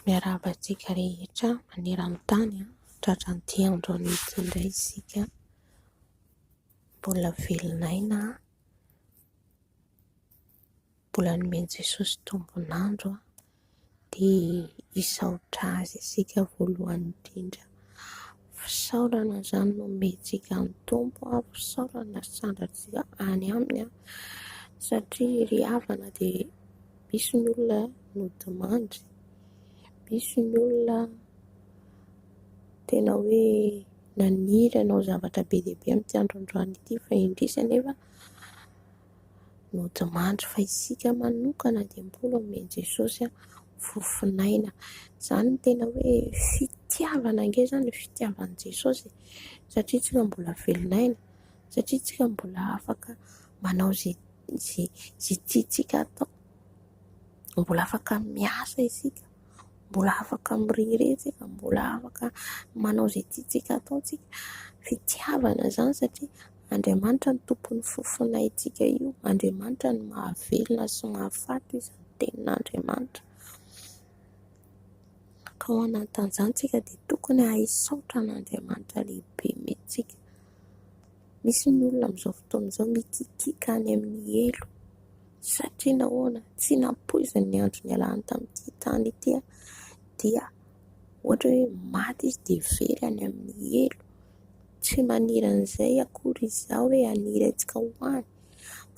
Miarahaba antsika rehetra maneran-tany tratran'ity androany ity indray isika. Mbola velona aina, mbola nomen'i Jesosy tombon'andro dia hisaotra Azy isika voalohany indrindra. Fisaorana izany no omentsika an'ny Tompo, fisaorana sy sandratsika any Aminy satria ry havana dia misy ny olona nodimandry, misy ny olona tena hoe naniry hanao zavatra be dia be amin'ity andro androany ity fa indrisy anefa. nodimandry fa isika manokana dia mbola omen'i Jesosy fofon'aina. Izany no tena hoe fitiavana ange izany ny fitiavan'i Jesosy satria isika mbola velon'aina, satria isika mbola afaka manao izay izay izay tiantsika atao, mbola afaka miasa isika. mbola afaka mirehareha isika, mbola afaka manao izay tiantsika atao isika. Fitiavana izany satria Andriamanitra no tompon'ny fo fanahintsika io, Andriamanitra no mahavelona sy mahafaty io izany tenin'Andriamanitra. Ka ao anatin'izany isika dia tokony hahay hisaotra an'Andriamanitra lehibe mihitsy isika. Misy ny olona amin'izao fotoana izao mikikiaka any amin'ny helo satria nahoana ? Tsy nampoiziny ny andro nialany tamin'ity tany ity dia ohatra hoe maty izy dia very any amin'ny helo. Tsy maniry an'izay akory izaho hoe haniry antsika ho any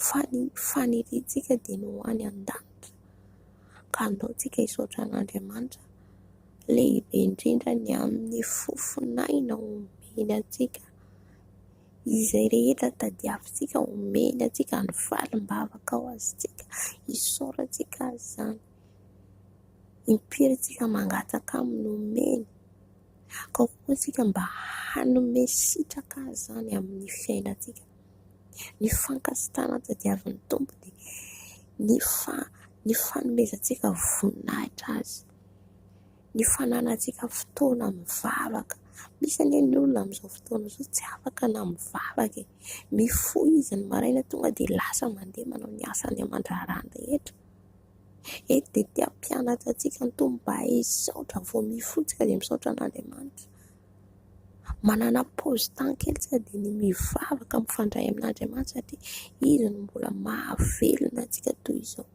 fa ny faniriantsika dia ny ho any an-danitra. Ka andao isika hisaotra an'Andriamanitra lehibe indrindra ny amin'ny fofon'aina omeny antsika. Izay rehetra tadiavintsika omeny antsika ny valim-bavaka ho azontsika isaorantsika azy izany, impirintsika mangataka aminy omeny, akao koa isika mba hanome sitraka azy izany amin'ny fiainantsika, ny fankasitrahana tadiavin'ny Tompo dia ny fanomezantsika voninahitra azy. ny fananantsika fotoana mivavaka. Misy anie ny olona amin'izao fotoana izao tsy afaka na mivavaka e ! Mifoha izy ny maraina tonga dia lasa mandeha manao ny asany aman-draharaha rehetra. Eto dia te hampianatra antsika ny Tompo mba hay hisaotra vao mifoha isika dia misaotra an'Andriamanitra. Manana paozy tany kely isika dia ny mivavaka mifandray amin'Andriamanitra satria izy no mbola mahavelona antsika toy izao.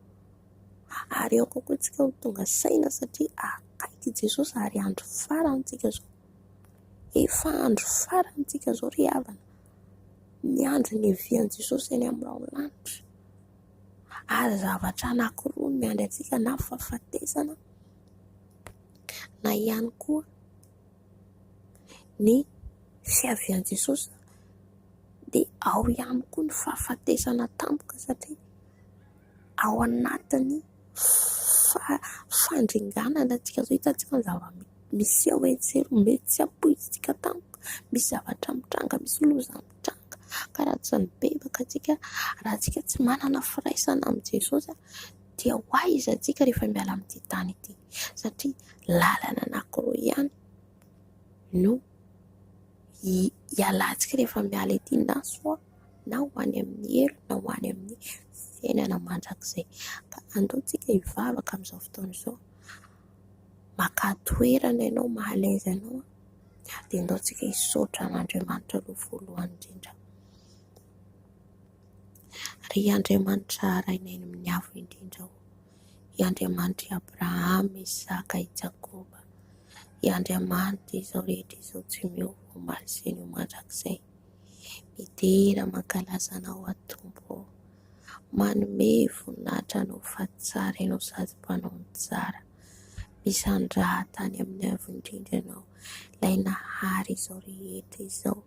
ary ao kokoa isika ho tonga saina satria akaiky i Jesosy ary andro farany isika izao. Efa andro farany isika izao ry havana, miandry ny hevian'i Jesosy eny amin'ny rahona lanitra ary zavatra anankiroa no miandry antsika na fahafatesana na ihany koa ny fiavian'i Jesosy dia ao ihany koa ny fahafatesana tampoka satria ... ao anatin'ny fandringanana antsika izao. Hitantsika ny zava-miseho etsy sy eroa. Mety tsy ampoizitsika tampoka. Misy zavatra mitranga, misy loza mitranga. Ka raha tsy mibebaka antsika, raha isika tsy manana firaisana amin'i Jesosy, dia ho aiza antsika rehefa miala amin'ity tany ity? Satria lalana anankiroa ihany no hialantsika rehefa miala ety, na soa. na ho any amin'ny helo na ho any amin'ny fiainana mandrakizay. Ka andao isika hivavaka amin'izao fotoana izao, maka toerana ianao mahalaiza anao dia andao isika hisaotra an'Andriamanitra aloha voalohany indrindra. Ry Andriamanitra Rainay amin'ny avo indrindra ô, i Andriamanitr'i Abrahama, Isaka, i Jakoba, i Andriamanitra izao rehetra izao tsy miova omaly sy ny mandrakizay. Midera mankalaza anao aho Tompo ô. Manome voninahitra anao fa tsara ianao sady mpanao ny tsara. Misandraha tany amin'ny Avo indrindra ianao, ilay nahary izao rehetra izao.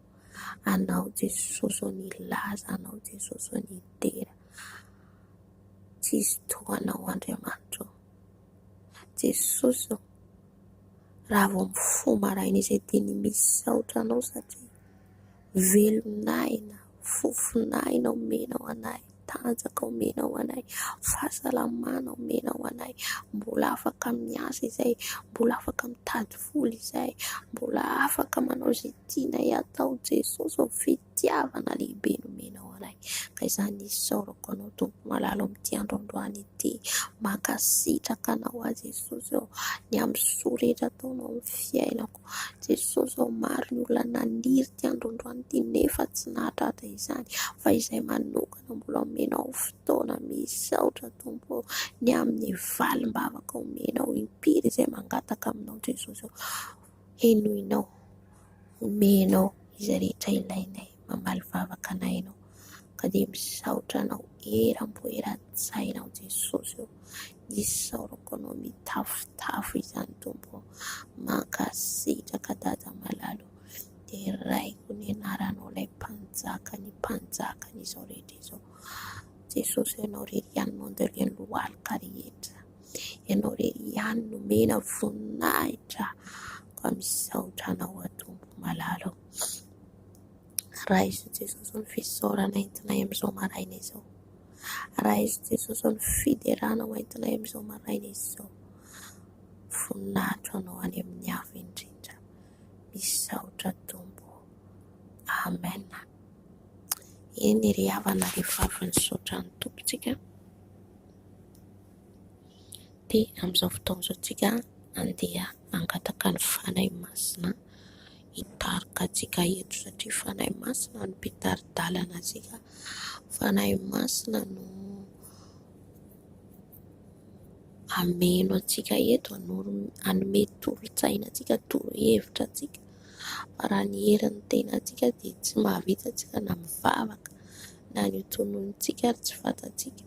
Anao Jesosy ô, nilaza anao Jesosy ô, nidera. Tsisy toa anao Andriamanitra ô. Jesosy ô, raha vao mifoha maraina izay dia ny misaotra anao satria. Velon'aina, fofon'aina omena ho anay, tanjaka omena ho anay, fahasalamana omena ho anay, mbola afaka miasa izay, mbola afaka mitady vola izay, mbola afaka manao izay tianay atao Jesosy ô ! Fitiavana lehibe nomena ho anay ka izany isaorako anao Tompo malala ao amin'ity andro androany ity. Mankasitraka anao aho Jesosy ô ! Ny amin'ny soa rehetra ataonao amin'ny fiainako. Jesosy ô maro ny olona naniry ity androandroany ity nefa tsy nahatratra izany fa izay manokana mbola omenao fotoana misaotra Tompo ô ny amin'ny valim-bavaka omenao impiry izay mangataka aminao Jesosy ô henoinao omenao izay rehetra ilainay. mamaly vavaka anay ianao ka dia misaotra anao eram-po eran-tsaina ao Jesosy ô. Isaorako anao mitafotafo izany Tompo ô. Mankasitraka Dada malala ô. Deraiko ny anaranao ilay mpanjaka ny mpanjaka ny izao rehetra izao. Jesosy ô ianao irery ihany no andalian'ny lohalika rehetra. Ianao irery ihany no mena voninahitra ka misaotra anao Tompo malala ô. Raiso Jesosy ny fisaorana entinay amin'izao maraina izao. Raiso Jesosy ny fiderana ho entinay amin'izao maraina izao. Voninahitra ho anao any amin'ny avo indrindra. Misaotra Tompo. Amen. Eny ry havana rehefa avy nisaotra ny Tompontsika dia amin'izao fotoana izao tsika andeha hangataka ny Fanahy Masina hitarika antsika eto satria Fanahy Masina no mpitari-dalana antsika, Fanahy Masina no hameno antsika eto, hanome tolo-tsaina antsika, torohevitra antsika fa raha ny herin'ny tenantsika dia tsy mahavita isika na mivavaka na ny ho tononontsika ary tsy fantatsika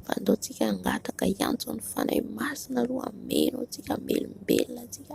fa andaontsika hangataka hiantso ny Fanahy Masina aloha hameno antsika, hamelombelona antsika.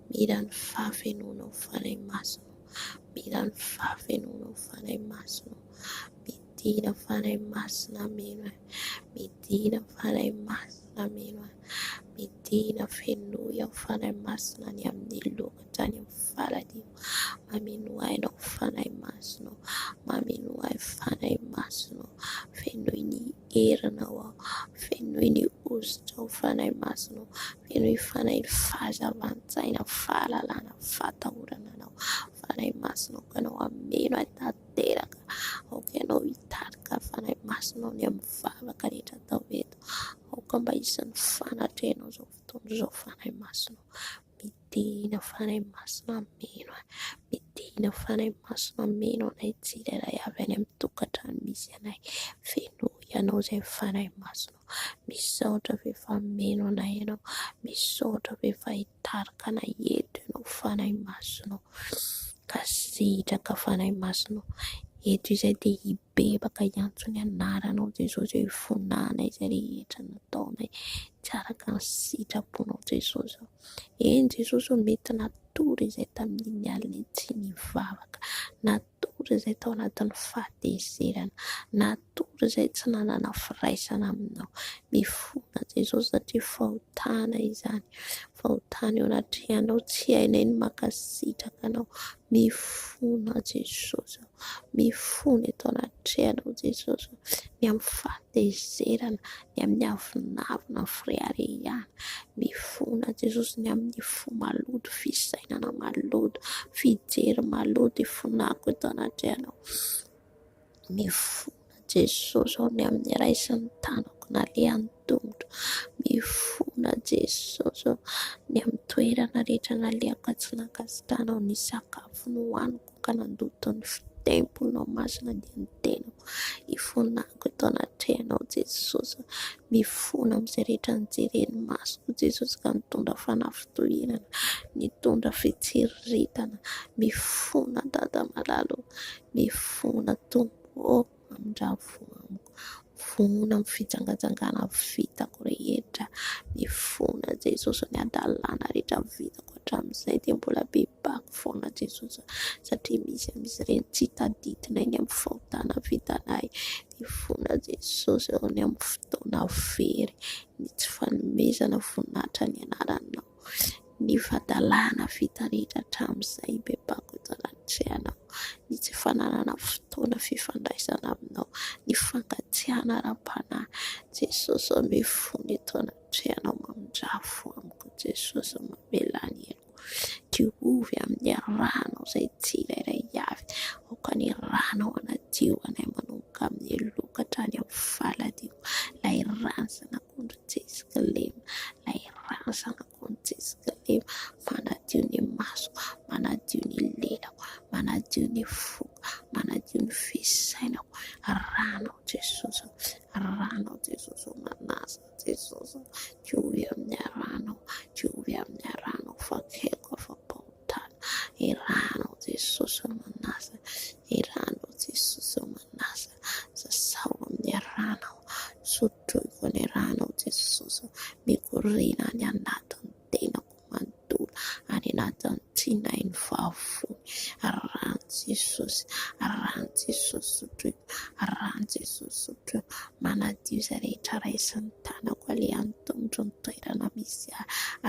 Mira ny fahafenoana ho fanahy masina ô. Mira ny fahafenoana ho fanahy masina ô. Midina fanahy masina mino ahy. Midina fanahy masina mino ahy. Midina fenoy aho fanahy masina ny amin'ny loha hatrany amin'ny faladio. Mameno ahy ianao fanahy masina ô. Mameno ahy fanahy masina ô. Fenoy ny Heranao aho, fenoy ny hosotrao Fanahy Masina ô, fenoy Fanahy ny fahazavan-tsaina, fahalalana, fahatahorana Anao, Fanahy Masina aoka Anao hameno ahy tanteraka, aoka Ianao hitarika ahy Fanahy Masina ao ny amin'ny vavaka rehetra atao eto, aoka mba hisy ny fanatrehanao izao fotoana izao Fanahy Masina ô. Midina Fanahy Masina Ameno a! Midina Fanahy Masina Ameno anay tsirairay avy any amin'ny tokantrano misy anay, fenoy Ianao izay Fanahy Masina ô! Misaotra fa efa ameno anay Ianao, misaotra fa efa hitarika anay eto Ianao Fanahy Masina ô! Ka sitraka Fanahy Masina ô! Eto izay dia hibebaka hiantso ny Anaranao Jesosy, hifonanay izay rehetra nataonay. Tsy araka ny sitraponao Jesosy ô. Eny Jesosy ô mety natory izay tamin'iny alina iny tsy nivavaka, natory izay tao anatin'ny fahatezerana, natory izay tsy nanana firaisana aminao. Mifona Jesosy satria fahotana izany, fahotana eo anatrehanao tsy hainay ny mankasitraka anao. Mifona Jesosy ô, mifona eto anatrehanao Jesosy, ny amin'ny fahatezerana. ny amin'ny avonavona ny fireharehana, mifona Jesosy ny amin'ny fo maloto, fisainana maloto, fijery maloto ifonako eto anatrehanao, mifona Jesosy aho ny amin'ny raisin'ny tanako nalehan'ny tongotra, mifona Jesosy aho ny amin'ny toerana rehetra nalehako ka tsy nankasitrahanao ny sakafo nohaniko. ka nandoto ny temponao masina dia ny tenako ifonako eto anatrehanao Jesosy ah, mifona amin'izay rehetra nijeren'ny masoko Jesosy ka nitondra fanafitohinana, nitondra fitsiriritana, mifona Dada malala ô, mifona Tompo ô. Mandravo amiko, vonona amin'ny fijangajangana vitako rehetra, ny fona Jesosy, ny hadalana rehetra vitako hatramin'izay dia mbola bebako foana Jesosy satria misy amin'izy ireny tsy tadidinay ny amin'ny fahotana vitanay, ny fona Jesosy, ny amin'ny fotoana very, ny tsy fanomezana voninahitra ny anaranao. ny fadalana vitan'iny hatramin'izay be mpako eto anatrehana aho, ny tsy fananana fotoana fifandraisana aminao, ny fankatsiahana ara-panahy. Jesosy ô mifono eto anatrehanao mamindrafo amiko Jesosy mamela ny aiko, diovy amin'ny ranao izay tsirairay avy, aoka ny ranao hanadio anay manomboka amin'ny loha ka hatrany amin'ny faladino, ilay rano zanaka. Akondro tsy misy kilema, ilay razana akondro tsy misy kilema, manadio ny maso, manadio ny lelako, manadio ny foko, manadio ny fisainako, Rano ao Jesosy ô, Rano ao Jesosy ô, manasa aho Jesosy ô, Teo ho eo amin'ny Rano aho, Teo ho eo amin'ny Rano aho, fa tsy haiko afa-po. tany Irano aho Jesosy ô manasa Irano aho Jesosy ô manasa Sasao amin'ny rano aho Sotroiko amin'ny rano aho Jesosy ô Mikoriana any anatin'ny tenako manontolo Any anatin'ny tsinainy vavony Rano Jesosy Rano Jesosy Sotroiko Rano Jesosy Sotroiko Manadio izay rehetra raisin'ny tanako Alehan'ny tongotro ny toerana misy ahy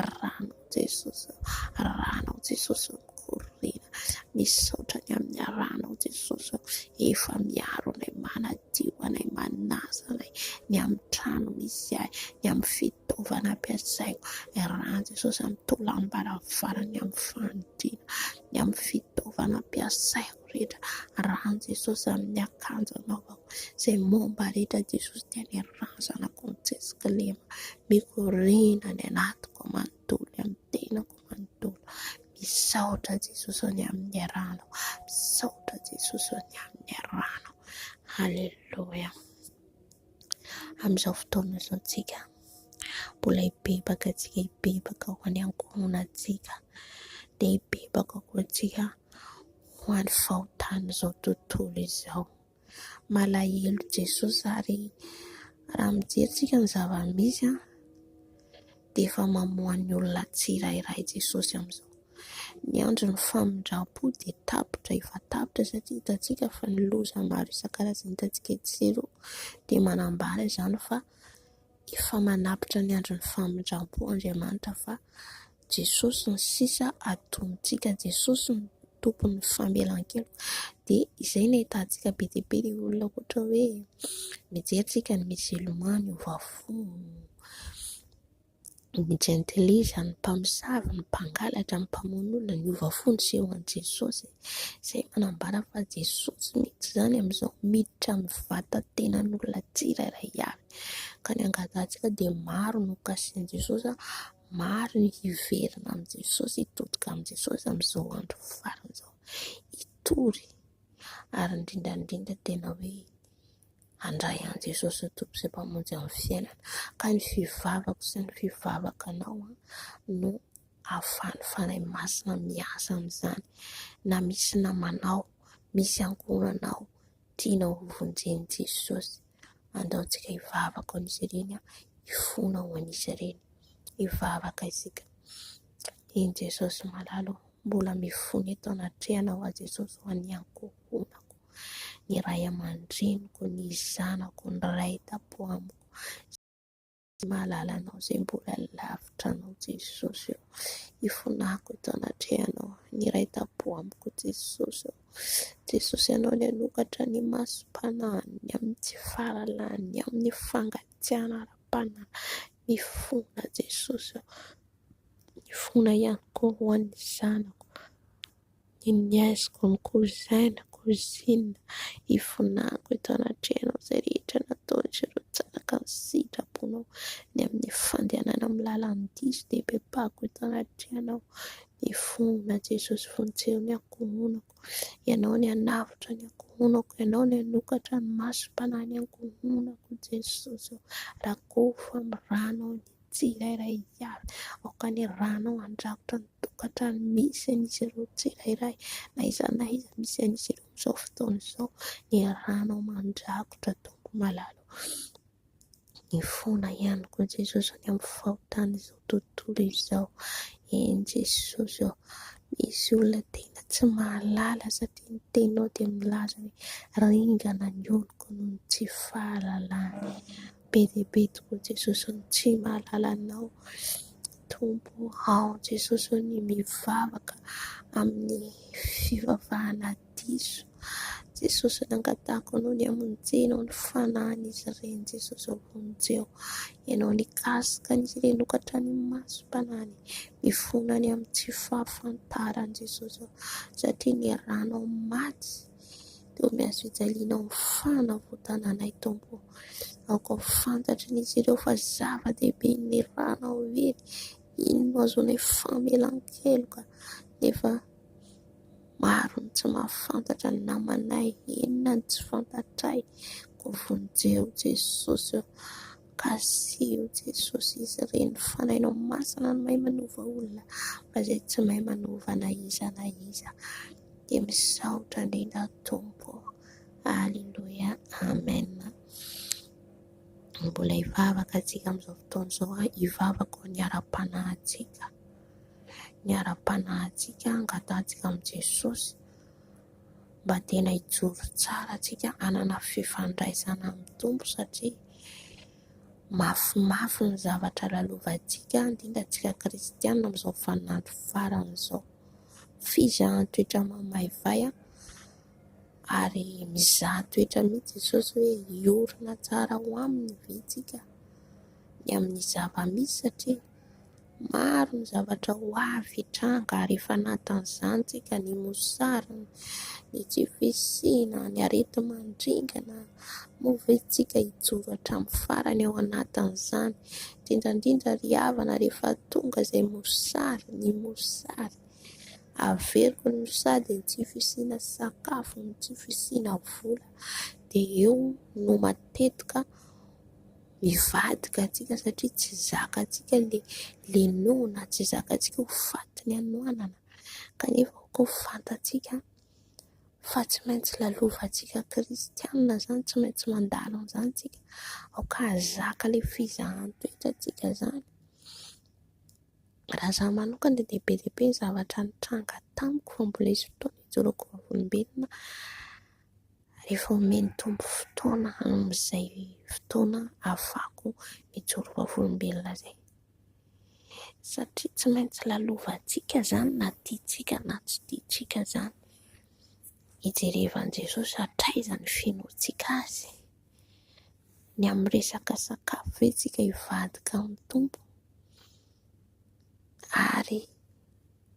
Rano Jesosy ô, Ranao Jesosy mikoriana, misaotra ny amin'ny Ranao Jesosy ô, efa miaro anay, manadio anay, manasa anay, ny amin'ny trano misy ahy, ny amin'ny fitaovana ampiasaiko, Rano Jesosy amin'ny taolam-baravarana, ny amin'ny fanodinana, ny amin'ny fitaovana ampiasaiko. anaovako rehetra rahan'i Jesosy amin'ny akanjo anaovako izay momba rehetra Jesosy dia ny razanako ny tsy misy kilema mikoriana ny anatiko manontolo amin'ny tenako manontolo misaotra Jesosy ny amin'ny rano misaotra Jesosy ny amin'ny rano Alléluia. Amin'izao fotoana izao tsika. Mbola hibebaka antsika hibebaka ho any ankohonantsika dia hibebaka koa antsika ho any fahotan'izao tontolo izao. Malahelo Jesosy ary raha mijery tsika ny zava-misy dia efa mamoha ny olona tsirairay Jesosy amin'izao. Ny andron'ny famindrampo dia tapitra efa tapitra satria hitantsika fa ny loza maro isan-karazany hitantsika etsy sy eroa dia manambara izany fa. Efa manapitra ny andron'ny famindrampo Andriamanitra fa Jesosy ny sisa atontsika, Jesosy no tompon'ny famelan-keloka dia izay no ahitantsika be dia be dia olona ohatra hoe mijery tsika ny miozolomano miova fo. Ny jentilisa, ny mpamosavy, ny mpangalatra, ny mpamono olona, ny hova fo niseho an'i Jesosy. Izay manambara fa Jesosy mihitsy izany amin'izao miditra amin'ny vatan-tenan'olona tsirairay avy. Ka ny angatantsika dia maro no kasihin'i Jesosy, maro ny hiverina amin'i Jesosy, hitodika amin'i Jesosy amin'izao andro farany izao, hitory ary indrindra indrindra tena hoe... Handray an'i Jesosy ho Tompo sy Mpamonjy amin'ny fiainana. Ka ny fivavako sy ny fivavakanao no ahafahan'ny Fanahy Masina miasa amin'izany. Na misy namanao, misy ankohonanao tianao ho vonjen'i Jesosy, andaontsika hivavaka ho an'izy ireny, hifona ho an'izy ireny. Hivavaka isika. Eny Jesosy malala ô, mbola mifona eto anatrehanao aho Jesosy ho an'ny ankohonako. ny ray aman-dreniko, ny zanako, ny ray tampo amiko, izay mahalala Anao, izay mbola lavitra Anao, Jesosy ô. Ifonako eto anatrehanao, ny ray tampo amiko, Jesosy ô. Jesosy Ianao no hanokatra ny masom-panahiny, ny amin'ny tsy fahalalahany, ny amin'ny fangatsiahana ara-panahy. Mifona Jesosy ô. Mifona ihany koa ho an'ny zanako. Ny niaiziko ny kouzaina, cousine, ifonako eto anatrehanao izay rehetra nataon'izy ireo tsaraka ny sitraponao, ny amin'ny fandehanana amin'ny lalan'ny diso dia bebako eto anatrehanao, ny fona Jesosy vonjeo ny ankohonako, Ianao no nanavotra ny ankohonako, Ianao no nanokatra ny masom-panahy ny ankohonako Jesosy ô, rakofy amin'ny ranao ny. Tsy ilairay ihany. Aoka ny ranao handrakotra ny tokantrano misy an'izy ireo tsirairay, na iza na iza misy an'izy ireo amin'izao fotoana izao. Ny ranao mandrakotra, Tompo malala ô. Mifona ihany koa Jesosy any amin'ny fahotan'izao tontolo izao. Eny Jesosy ô. Misy olona tena tsy mahalala satria ny teninao dia milaza hoe ringana ny oloko noho ny tsy fahalalany. Be dia be tokoa Jesosy ny tsy mahalala anao Tompo ao Jesosy ao ny mivavaka amin'ny fivavahana diso Jesosy ny angatahiko anao ny hamonjena ao ny fanahin'izy ireny Jesosy ao vonjeo ianao nikasika an'izy ireny ho hatrany amin'ny masom-panahiny mifona any amin'ny tsy fahafantarany Jesosy ao satria ny ranao maty dia omeo azy fijaliana ao amin'ny fanavotana anay Tompo o. Aoka ho fantatrin'izy ireo fa zava-dehibe ny rànao ireny, iny no ahazoanay famelan-keloka nefa maro ny tsy mahafantatra ny namanay, inona no tsy fantatray koa vonjeo Jesosy o. Kasiho Jesosy izy ireny, ny fanahinao masina no mahay manova olona fa izay tsy mahay manova na iza na iza. dia misaotra indrindra ny Tompo. Alléluia. Amen. Mbola hivavaka antsika amin'izao fotoana izao ah, hivavaka ny ara-panahintsika. Ny ara-panahintsika angatahantsika amin'i Jesosy mba tena hijoro tsara antsika hanana fifandraisana amin'ny Tompo satria mafimafy ny zavatra lalovantsika, indrindra antsika kristianina amin'izao vaninandro farany izao. Fizahantsotra mamaivay ary mizaha toetra mihitsy Jesosy hoe hiorina tsara ho aminy ve isika ny amin'ny zava-misy satria maro ny zavatra ho avy hitranga ary efa anatin'izany isika, ny mosary, ny tsy fisiana, ny areti-mandringana. Moa ve isika hijoro hatramin'ny farany ao anatin'izany ? Indrindra indrindra ry havana rehefa tonga izay mosary, ny mosary. Averiko ny mosary dia ny tsy fisiana sakafo, ny tsy fisiana vola dia eo no matetika mivadika antsika satria tsy zakantsika ilay lenoana, tsy zakantsika ho faty ny hanoanana kanefa koa fantantsika. fa tsy maintsy lalovantsika kristianina izany, tsy maintsy mandalo an'izany isika aoka hahazaka ilay fizahan-toetra antsika izany, raha izaho manokana dia dia be dia be ny zavatra nitranga tamiko vao mbola hisy fotoana hijoroako ho vavolombelona rehefa omen'ny Tompo fotoana amin'izay fotoana hahafahako mijoro ho vavolombelona izay. Satria tsy maintsy lalovantsika izany na tiantsika na tsy tiantsika izany. Ijerevan'i Jesosy hatraiza ny finoantsika azy. Ny amin'ny resaka sakafo ve isika hivadika amin'ny Tompo ary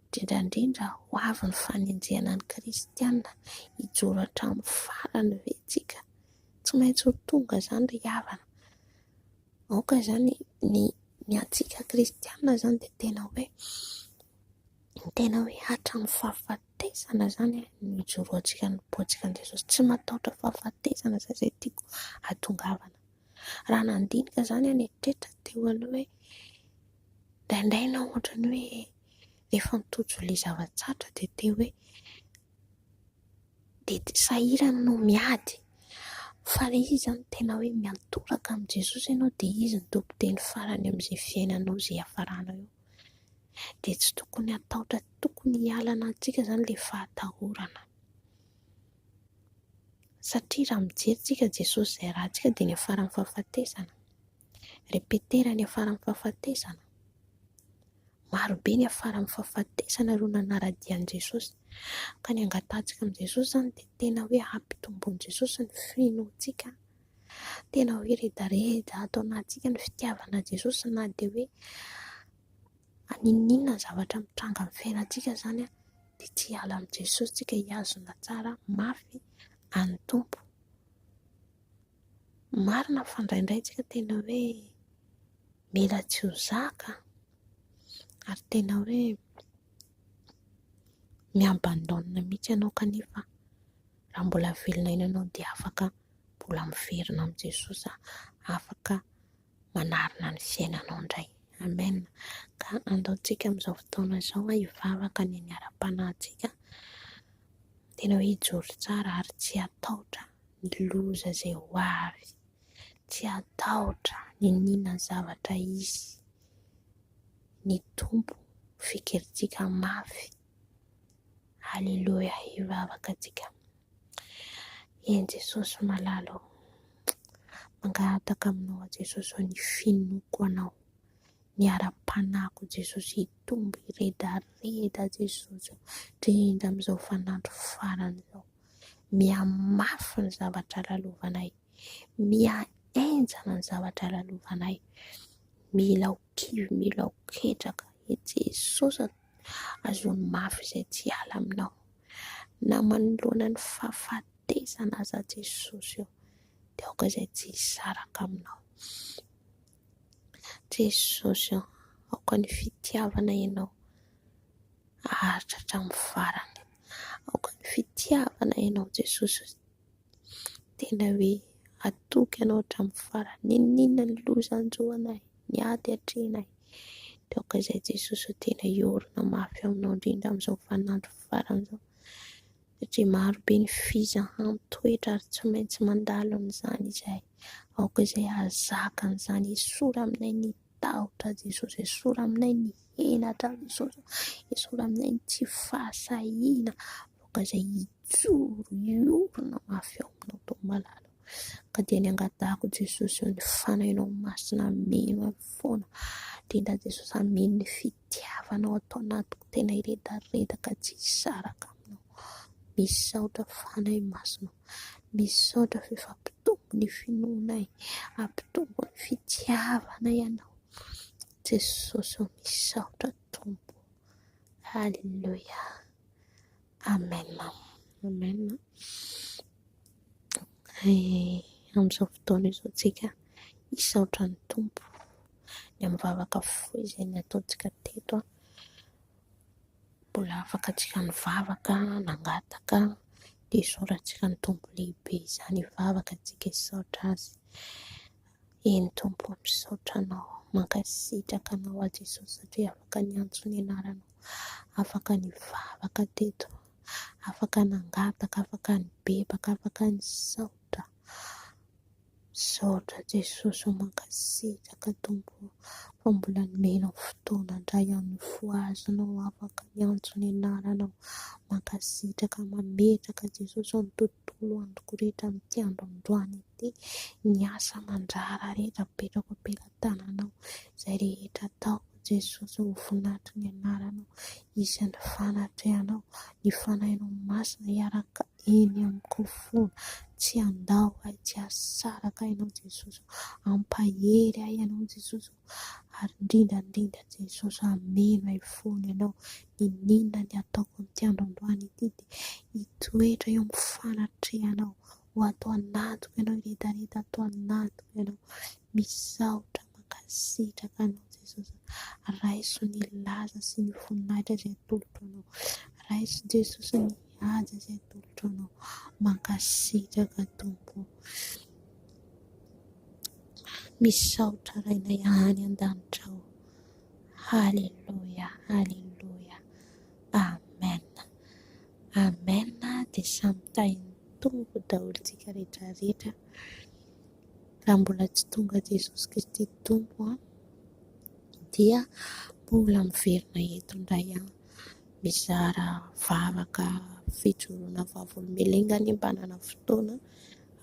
indrindra indrindra ho avy ny fanenjehana ny kristiana hijoro hatramin'ny farany ve isika. Tsy maintsy ho tonga izany ry havana. Aoka izany ny ny antsika kristiana izany dia tena hoe tena hoe hatramin'ny fahafatesana izany no hijoroantsika hanompoantsika an'i Jesosy. Tsy matahotra fahafatesana izay izay tiako hatongavana. Raha nandinika izany aho nieritreritra teo aloha hoe indraindray ianao ohatran'ny hoe efa mitojo ilay zava-tsarotra dia te hoe dia tsy sahirana ianao miady fa ilay izy izany tena hoe miantoraka amin'i Jesosy ianao dia Izy no tompon-teny farany amin'izay fiainanao izay hiafarana eo dia tsy tokony hatahotra, tsy tokony hialana amintsika izany ilay fahatahorana satria raha mijery isika Jesosy izay ratsika dia niafaran'ny fahafatesana, repetera niafaran'ny fahafatesana. Marobe ny afara amin'ny fahafatesana ireo nanara-dia an'i Jesosy. Ka ny angatahantsika amin'i Jesosy izany dia tena hoe hampitomboan'i Jesosy ny finoantsika. Tena hoe redareda ato anatintsika ny fitiavana Jesosy na dia hoe aninona ny zavatra mitranga amin'ny fiainantsika izany dia tsy hiala amin'i Jesosy tsika hihazona tsara mafy an'ny Tompo. Marina fa indraindray isika tena hoe mila tsy ho zaka ary tena hoe mi-abandonne mihitsy ianao kanefa raha mbola velona eny ianao dia afaka mbola miverina amin'i Jesosy aho, afaka manarina ny fiainanao indray. Amen ! Ka andaotsika amin'izao fotoana izao hivavaka ny aniaram-panahintsika, tena hoe hijoro tsara ary tsy hatahotra ny loza izay ho avy. Tsy hatahotra ny nina zavatra hisy. Ny Tompo fikirintsika mafy. Aleloia hivavaka tsika. Eny Jesosy malala ô. Mangataka aminao Jesosy ô ny finoako anao. Ny ara-panahiko Jesosy hitombo hiredareda Jesosy ô. Indrindra amin'izao fanandro farany izao. Mihamafy ny zavatra lalovanay. Mihahenjana ny zavatra lalovanay. Mila ho kivy, mila ho ketraka. I Jesosy an, azony mafy izay tsy hiala aminao. Na manoloana ny fahafatesana aza Jesosy eo, dia aoka izay tsy hisaraka aminao. Jesosy an, aoka ny fitiavana ianao. haharitra hatramin'ny farany. Aoka ny fitiavana ianao Jesosy ô, tena hoe hatoky anao hatramin'ny farany, n'inon'inona ny loza hanjo anay, ny ady hatrehinay, dia aoka izay Jesosy ô, tena hiorina mafy aminao indrindra amin'izao vaninandro farany izao, satria maro be ny fizahana mitoetra ary tsy maintsy mandalo an'izany izahay, aoka izay hahazaka an'izany, esory aminay ny Tahotra Jesosy esory aminay ny henatra Jesosy ô, esory aminay ny tsy fahasahiana aoka izay hijoro hiorina mafy eo aminao Tompo malala ô, ka dia ny angatahako Jesosy ô ny fanahinao masina ameno ahy foana, indrindra Jesosy ameno ny fitiavanao ato anatiko tena hiredaredaka tsy hisaraka aminao, misaotra fanahy masina ô. Misaotra f'ampitombo ny finoana e, ampitombo ny fitiavana ianao Jesosy ô, misaotra Tompo ô, Aleloia, Amen, Amen eh, amin'izao fotoana izao tsika misaotra ny Tompo ny amin'ny vavaka fohy izay nataontsika teto an, mbola afaka tsika nivavaka, nangataka. dia sorattsika ny Tompo lehibe izany hivavaka antsika hisaotra Azy. Eny Tompo, misaotra Anao, mankasitraka Anao aho Jesosy satria afaka niantso ny Anaranao, afaka nivavaka teto, afaka nangataka, afaka nibebaka, afaka nisaotra. Misaotra Jesosy ô mankasitraka Tompo ô fa mbola nomenao fotoana ndray aho nifohazanao afaka niantso ny anaranao mankasitraka mametraka Jesosy ô ny tontolo androko rehetra amin'ity andro androany ity ny asa aman-draharaha rehetra apetrako am-pelatananao izay rehetra ataoko Jesosy ho voninahitry ny anaranao isan'ny fanatrehanao ny fanahinao masina hiaraka eny amiko fona tsy handao ahy tsy hasaraka ahy ianao Jesosy ô ampahery ahy ianao Jesosy ô ary indrindra indrindra Jesosy hameno ahy fona ianao n'inona n'inona ny ataoko amin'ity andro androany ity dia hitoetra eo amin'ny fanatrehanao ho ato anatiko ianao hiredareda ato anatiko ianao misaotra mankasitraka anao Jesosy raiso ny laza sy ny voninahitra izay atolotro anao raiso Jesosy ny haja izay atolotro anao mankasitraka tompo misaotra rainay any an-danitra ao haleloia haleloia Amen Amen dia samy tahin'ny Tompo daholo tsika rehetra rehetra raha mbola tsy tonga Jesosy Kristy Tompo an! dia mbola miverina eto indray an! mizara vavaka fijoroana vavolombelon'Ingahy anie mba hanana fotoana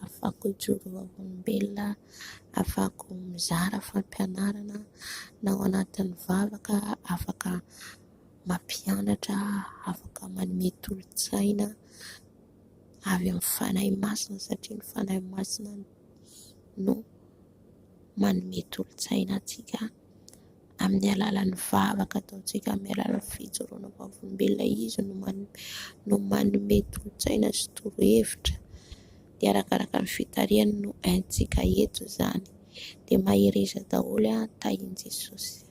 afahako hijoro vavolombelona afahako mizara fampianarana na ao anatin'ny vavaka afaka mampianatra afaka manome tolo-tsaina avy amin'ny Fanahy Masina satria ny Fanahy Masina no manome tolo-tsaina antsika amin'ny alalan'ny vavaka ataontsika, amin'ny alalan'ny fijoroana vavolombelona izy no manome no manome tolo-tsaina sy torohevitra dia arakaraka ny fitarihany no haintsika eto izany dia mahereza daholo tahin'i Jesosy.